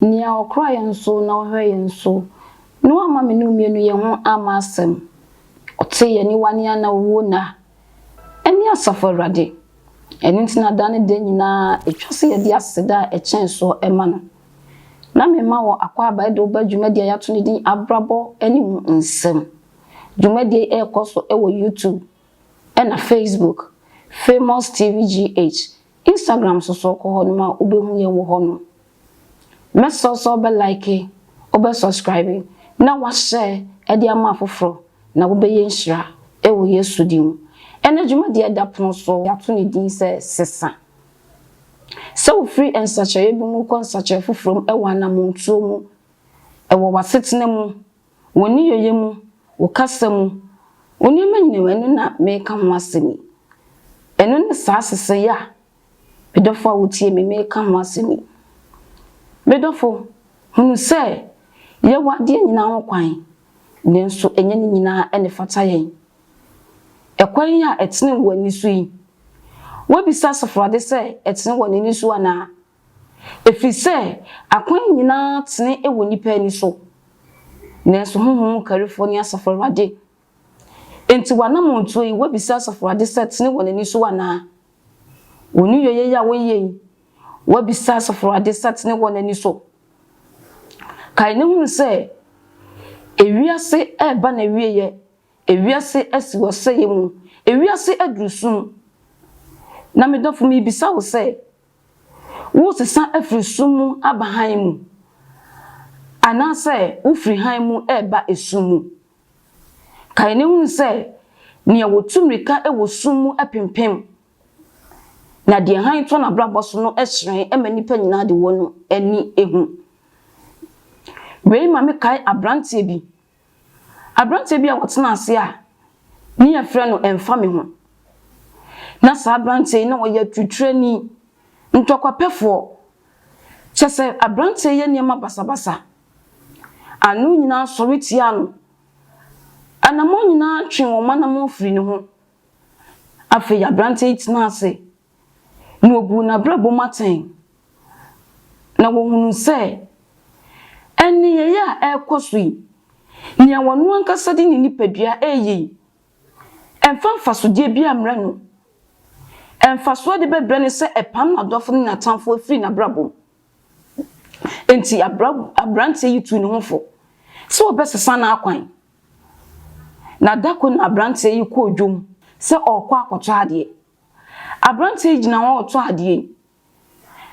Nea ɔkora yɛn so na ɔhwɛ yɛn so, na wamma me ne wo mmienu yɛn ho amma asɛm. Ɔtee yɛn aniwa ne yɛn anawuo nna. Ɛne Asafo Awurade. Ɛno nti na da ne da nyinaa ɛtwa sɛ yɛde aseda a ɛkyɛn soɔ ma no. Na mema wo akwaaba de wo ba dwumadie a yɛato ne din Abrabɔ ne Mu Nsɛm. Dwumadie yi rekɔ so wɔ YouTube ɛna Facebook, Famous TV GH, Instagram nso so kɔ hɔ nom a wobɛhu yɛn wɔ hɔ nom. Mɛsrɛ wo sɛ wobɛ like, wobɛ subscribe, na wa share de ama afoforɔ na wobɛyɛ nhyira wɔ Yesu din mu. Ɛnɛ dwumadie a ɛda pono so yi yɛato ne din sɛ Sesa. Sɛ wofiri nsakyeraeɛ bi mu kɔ nsakyeraeɛ foforɔ mu wɔ anamontuo mu, wɔ w'asetena mu, wo nneyɔeɛ mu, wo kasa mu, wo nneɛma nyinaa mu, ɛno na mereka ho asɛm yi. Ɛno ne saa sesɛyɛ a Me dɔfo a wutie me, mereka ho asɛm yi. Me dɔfo, hunu sɛ yɛwɔ adeɛ nyinaa ho kwan, nanso ɛnyɛ ne nyinaa na ɛfata yɛn. Ɛkwan yi a ɛtene wɔ w'ani so yi, woabisa asafohade sɛ ɛtene wɔ n'ani so anaa? Ɛfiri sɛ akwan nyinaa tene wɔ nnipa ani so, nanso honhom mu karifoɔ ne Asafo Awurade. Enti w'anammɔntuo yi, woabisa asafohade sɛ ɛtene wɔ n'ani so anaa? Wo nneyɛeɛ yi a woyɛ yi, woabisa asafo ade satene wɔ n'ani so. Kae na hunu sɛ, ewiase reba n'awieɛ, ewiase asi wɔ sɛeɛ mu, ewiase aduru sum. Na me dɔfo merebisa wo sɛ, woresesa afiri sum mu aba hann mu, anaasɛ wofiri hann mu reba esum mu? Kae na hu sɛ nea otu mmirika wɔ sum mu pempem na deɛ hann tɔ n'abrabɔ so no hyerɛn ma nnipa nyinaa de wɔn ani hu. Wei ma mekae aberanteɛ bi, aberanteɛ bi a ɔtena ase a ne yɛfrɛ no Ɛmfa Me Ho. Na saa aberanteɛ yi na ɔyɛ atutrani, ntɔkwapɛfoɔ. Kyɛ sɛ aberanteɛ yɛ nneɛma basabasa. Ano nyinaa sɔre tia no. Anammɔn nyinaa twe wɔn anammɔn firi ne ho. Afei aberanteɛ yi tenaa ase, na ɔbuu n'abrabɔ mu atɛn, na wɔhunuu sɛ nneyɛeɛ a ɛrekɔ so yi, nea ɔno ankasa de ne nipadua reyɛ yi, ɛmfa mfasodeɛ biara mmrɛ no. Mfasoɔ a ɛde bɛbrɛ ne sɛ ɛpam n'adɔfo ne n'atamfoɔ firi n'abrabɔ mu. Enti aberanteɛ yi tuu ne ho fo sɛ ɔbɛsesa n'akwan, na da koro na aberanteɛ yi kɔɔ dwom sɛ ɔrekɔ akɔtɔ adeɛ. Aberanteɛ yi gyina hɔ retɔ adeɛ yi,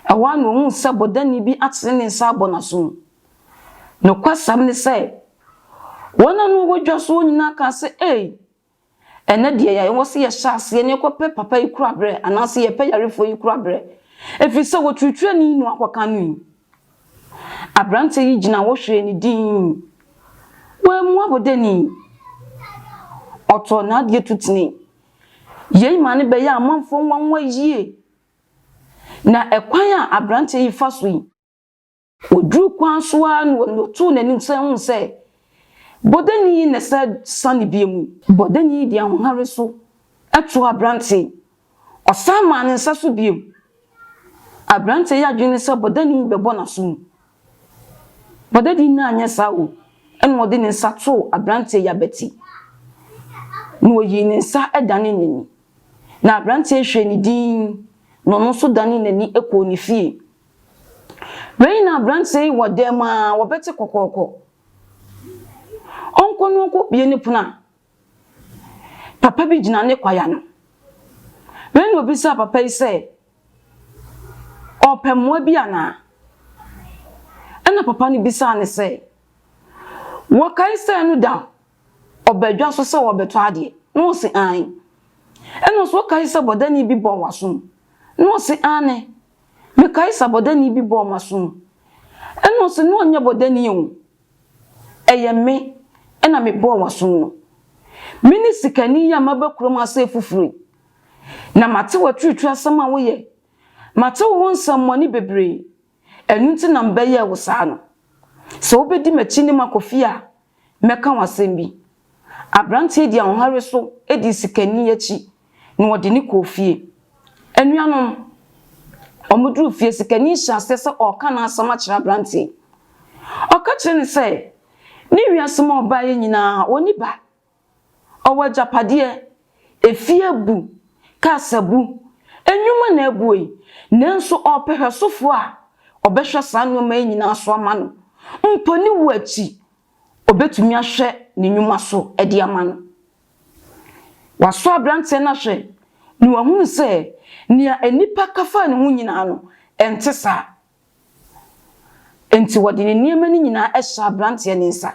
ɛhɔ ara na ɔhuu sɛ bɔdani bi atene ne nsa abɔ n'aso mu. Nokwasɛm ne sɛ, wɔn a na wɔwɔ dwa so hɔ nyinaa kaa sɛ, Ei! Ɛnnɛ deɛ yɛn a yɛwɔ sɛ yɛhyɛ aseɛ na yɛkɔpɛ papa yi koraberɛ anaasɛ yɛpɛ yarefoɔ yi koraberɛ ɛfiri sɛ wɔtwitwaa ne inu akɔka no yi. Aberanteɛ yi gyina hɔ hwɛɛ ne dinn. Wammu abɔdani. Ɔtɔɔ n'adeɛ tu tenee. Yei maa no bɛyɛɛ amanfoɔ nwanwa yie. Na ɛkwan a aberanteɛ yi fa so yi, Ɔduruu kwan so ara no na ɔtoo n'anim sɛ ɔhunu sɛ bɔdani yi na ɛsɛ sa ne bia mu. Bɔdani yi de ahohare so too aberanteɛ yi, ɔsan maa ne nsa so bio. Aberanteɛ yi adwene ne sɛ bɔdani yi bɛbɔ n'aso mu. Bɔdani yi anyɛ saa o, ɛna ɔde ne nsa too aberanteɛ yi abati, na ɔyii ne nsa danee n'ani. Na aberanteɛ yi hwɛɛ no dinn, na ɔno nso danee n'ani kɔɔ ne fie. Wei na aberanteɛ yi wɔ dɛm a, wɔbɛte kɔkɔɔkɔ. Ɔnkɔ na ɔnkɔ bue ne pono a, papa bi gyina ne kwae ano. Wei na obisaa papa yi sɛ, ɔrepɛ mmoa bi anaa? Ɛna papa no bisaa no sɛ, wɔkae sɛ no da ɔba dwa so sɛ ɔrebɛtɔ adeɛ? Na ɔse, aane. Ɛna ɔse, wokae sɛ bɔdani bi bɔɔ w'asom? Na ɔse, aane. Mekae sa bɔdani bi bɔɔ m'asom. Ɛna ɔse no ɔnyɛ bɔdani o, ɛyɛ me na me bɔɔ w'asom no. Me ne sikani yi a maba kurom ha sɛ foforo yi, na mate w'aturituri asɛm a woyɛ, mate wo ho nsɛmmɔne bebree, ɛno nti na mebɛyɛɛ wo saa no. Sɛ wobɛdi m'akyi ne makɔ fie a, Mɛka wo asɛm bi. Aberanteɛ dii ahohare so dii sikani akyi na wɔde no kɔɔ fie. Anuanom, wɔduruu fie, sikani hyɛɛ aseɛ sɛ ɔreka n'asɛm akyerɛ aberanteɛ yi. Ɔka kyerɛɛ no sɛ, ne wiase mu a ɔbaeɛ nyinaa, ɔnni ba. Ɔwɔ agyapadeɛ, efie abu, cars abu, nnwuma na abu ei, nanso ɔrepɛ hwɛsofoɔ a ɔbɛhwɛ saa nnoɔma yi nyinaa so ama no. Mpo ne wuo akyi, ɔbɛtumi ahwɛ ne nnwuma so de ama no. Wasɔ aberanteɛ no ahwɛ na wahunu sɛ nea nnipa ka fa ne ho nyinaa no, ɛnte saa. Enti wɔde ne nneɛma no nyinaa hyɛɛ aberanteɛ no nsa,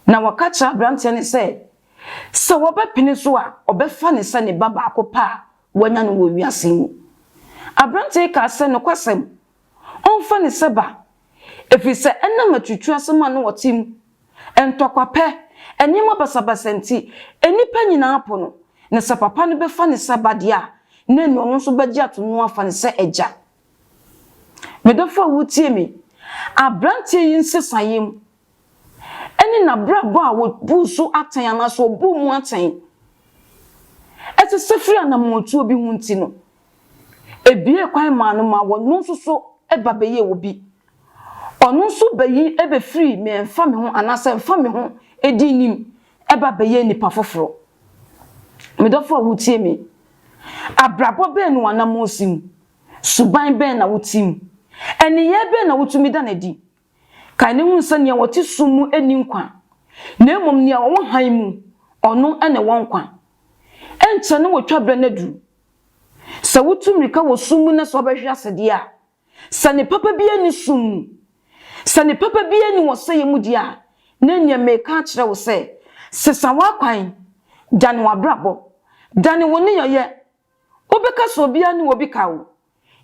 na wɔka kyerɛɛ aberanteɛ no sɛ, sɛ wɔbɛpene so a, ɔbɛfa no sɛ ne ba baako pɛ a wanya no wɔ wiase yi mu. Aberanteɛ yi kaa sɛ, Nokwasɛm, ɔmfa no sɛ ba, ɛfiri sɛ ɛnam aturutu asɛm a na wɔte mu, ntɔkwa pɛ, nneɛma basabasa nti, nnipa nyinaa po no, na sɛ papa no bɛfa no sɛ ba deɛ a, na ɛnneɛ ɔno nso bɛgye ato mu afa no sɛ agya. Me dɔfo a wutie me, aberanteɛ yi nsesaeɛm ne n'abrabɔ a wɔbuu so atɛn anaasɛ wɔbuu mu atɛn sesɛ firi anammɔntuo bi ho nti no, ebiee kwan maa no ma ɔno nso so ba bɛyɛɛ obi. Ɔno nso ba yi bɛfiri me mfa me ho anaasɛ mfa me ho di nim ba bɛyɛɛ nipa foforɔ. Me dɔfo a wutie me, abrabɔ bɛn na w'anammɔn si mu? Suban bɛn na wote mu? Nneyɛe bɛn na wotumi da no adi? Kae na hu sɛ nea wɔte sum mu nni nkwa, na mmom nea ɔwɔ hann mu, ɔno na ɛwɔ nkwa. Ɛnkyɛ ne wo twabere no adu. Sɛ wotu mmirika wɔ sum mu na sɛ wobɛhwe ase deɛ a, sɛ ne papa biara nni sum mu, sɛ ne papa biara nni ɔsɛeɛ mu deɛ a, na ɛnneɛ mereka akyerɛ wo sɛ, sesa w'akwan, dane w'abrabɔ, dane wo nneyɛeɛ Wobɛka sɛ obiara ne obi ka o,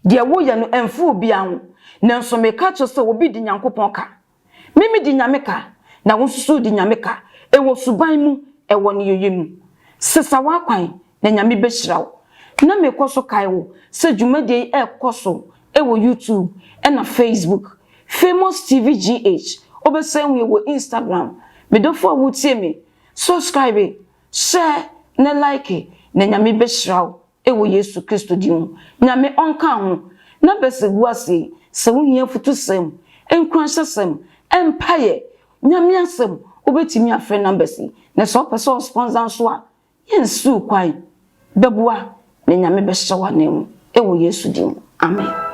deɛ woyɛ no ɛmfa obiara ho, nanso meka kyerɛ wo sɛ obi di Nyankopɔn ka. Me medi Nyame ka, na wo nso so wodi Nyame ka, ɛwɔ suban mu, ɛwɔ nneyɛeɛ mu. Sesa w'akwan, na Nyame bɛhyira wo. Na mekɔ so kae wo sɛ dwumadie yi ɛrekɔ so wɔ YouTube ɛna Facebook. Famous TV GH, wobɛsan wie wɔ Instagram. Medɔfo a wotie me, subscribe. Hyɛ ne like na Nyame bɛhyira wo wɔ Yesu Kristo din mu. Nyame ɔnka ho. Na bɛsɛ gu ase yi, sɛ wo hia afutusɛm, nkuranhyɛsɛm, mpaeɛ, Nyame asɛm, wo bɛtumi afrɛ numbers yi. Na sɛ wo pɛ sɛ wo sponsor nso a, yɛ nsi wo kwan. Bɛboa na Nyame bɛhyɛ wo anan mu wɔ Yesu din mu. Amen.